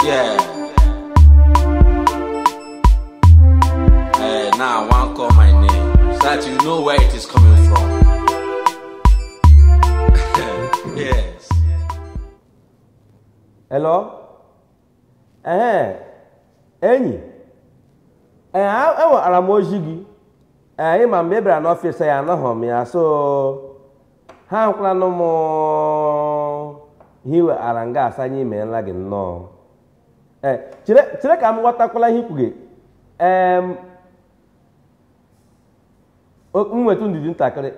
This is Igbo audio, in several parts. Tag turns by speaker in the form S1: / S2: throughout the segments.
S1: Yeah. Hey, now I want to call my name so that you know where it is coming from. yes. Hello? Ee, enyi, ee, enwetara m ozi gị. Ee, ị ma mgbe ị bịara n'ọfịs ya anọghị m ya so ha ahụkwalanụ m ihe i wetara nga a sị anyị meela gị nnọọ ee chere chere ka m ghọtakwala ihe i kwuga em o- m nwetụ ndidi ntakịrị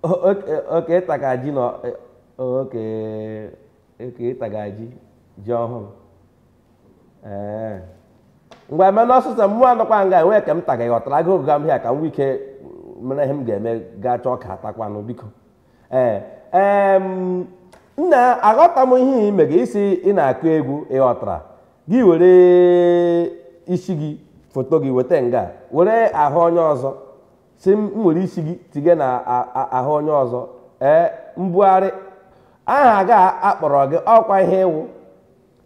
S1: O- okay okay ị taga ji na okay okay ị taga ji ji ọhụrụ ee ngwa mee ọsọsọ mụwa nọkwa nga enwe ka m taga ghọtara agụ oge m ihe a ka m nwee ike mere ihe m ga-eme gaa chọọ ka atakwanụ biko ee em, nna aghọta m ihe i mega ị sị ị na-akụ egwu ị ghọtara gị were isi gị foto gị weta nga were ahụ onye ọzọ sị m m were isi gị tinye na a- a- ahụ onye ọzọ ee mbugharị ahụ a ga-akpọrọ gị ọkwa ihe ị wụ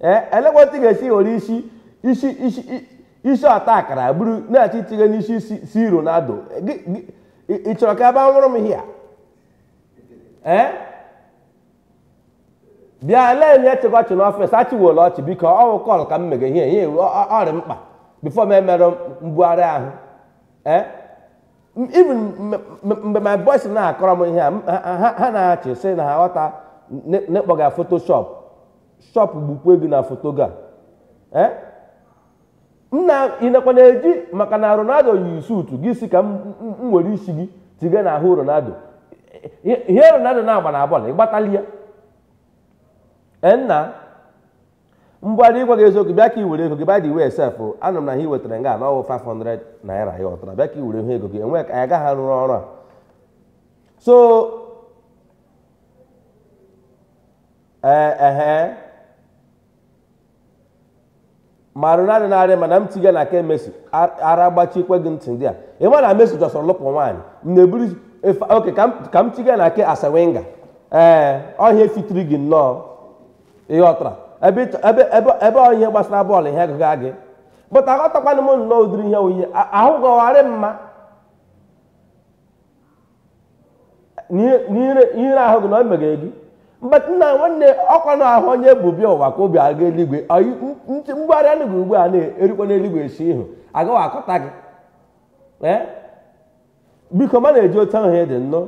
S1: ee elekwa otu ị ga-esi were isi isi isi i- isi ọta akara buru na-achọ itinye n'isi C- C. Ronaldo Gị- gị- ị ị chọrọ ka ebe anwụrụ m here ee bịa lee nye chịkọchị n'ọfịs achịwela ọchị biko ọ wụ call ka m mega ihe ihe a wụ ọ- ọ- ọ rị mkpa before m emere mbugharị ahụ ee M- even m- m- mgbe my boys na-akọrọ m ihe a m- ha- ha ha na-achị sị na ha aghọta na ị kpọga photoshop shop gbukwe gị na foto gị a eh? nna ị nakwa na-eji maka na Ronaldo yi suutu gị sị ka m were isi gị tiga na ahụ Ronaldo ihe Ronaldo na-agba na bọọlụ ị gbatali ya eh, nna mgbe adị ịgwa gị eziokwu bịa ka i were ego gị by the way sef anụ m na ihe i wetara nga na ọ wụ 500 naira ị ghọtara bịa ka i were ihe ego gị enwe ka anyị ga-eji arụrụ ọrụ a so ee ehe ma Ronaldo na arị mma na m tiga na nke Messi ara gbachikwe gị ntị ndị a ị ma na Messi jọsọrọ lụpụ nwaanyị m na-eburu okay ka m tiga na nke Arsene Wenger ee ọ ihe fitiri gị nnọọ ị ghọtara ebe ọ ihe gbasara bọọlụ ihe agụga gị but aghọtakwana m nnọọ ụdịrị ihe oyiye ahụ gọwarị mma n'ihere ahụ gị na o meghere gị mgbe nna nwanne ọkwa na ahụ onye bu bịa ụwa ka o bu aga eluigwe mgbagharị anụ gị ugbu a na-erikwa n'eluigwe esi ihu agaghị akọta gị biko ma na-eji otu ahụ dị nnọọ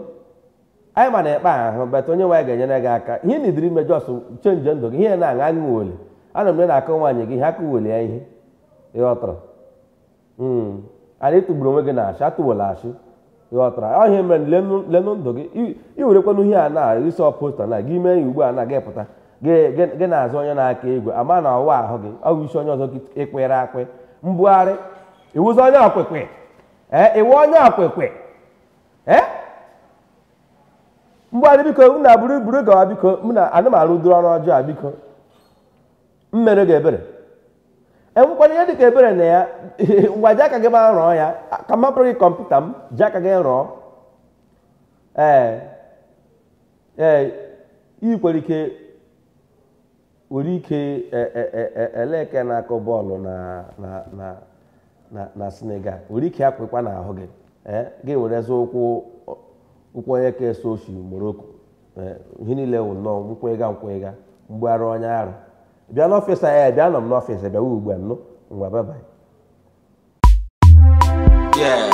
S1: anyị ma na-ekpe ahụ bata onye nwaanyị ga-enyere gị aka ihe na idiri imejọ ọsụ chenji ndụ gị ihe na-aṅa aṅụ weli ana m na-akọ nwaanyị gị ihe aka weli ya ihe ịghọtara hmm. anyị tụgburu onwe gị na ashị atụwala ashị ghọtara ihe a mere lenụ ndụ gị i werekwanụ ihe a na isi ọposta na gị mee ya ugbu a na gị pụta gị na-azụ onye na-aka egwu ama na ọ wụ ahụ gị ọ bụ isi onye ọzọ ịkwere akwe mbugharị ị wụzi onye okike ee ị wụ onye okike ee mbugharị biko m na buru buru gawa biko m na anụmanụ duru ọrụ ọjọọ biko m mere gị ebere enwekwara ihe dịka ebere na ya ngwa ji aka gị ma rụọ ya ka m gị kọmputa m ji aka gị rụọ ee ee ị kwere ike nwere ike e, e, e, eleke na-akụ bọọlụ na Senegal nwere ike akwụkwa n'ahụ gị gị were zụ ụkwụ ụkwụ onye ka eso oshi Morocco Eh, ihe niile wụ nnọọ nkwega nkwega mgbaghara onye ara bịa n'ọfịs anyị eh, bịa nọ m n'ọfịs eh, bịawa ugbu a nụ ngwa babai Yeah.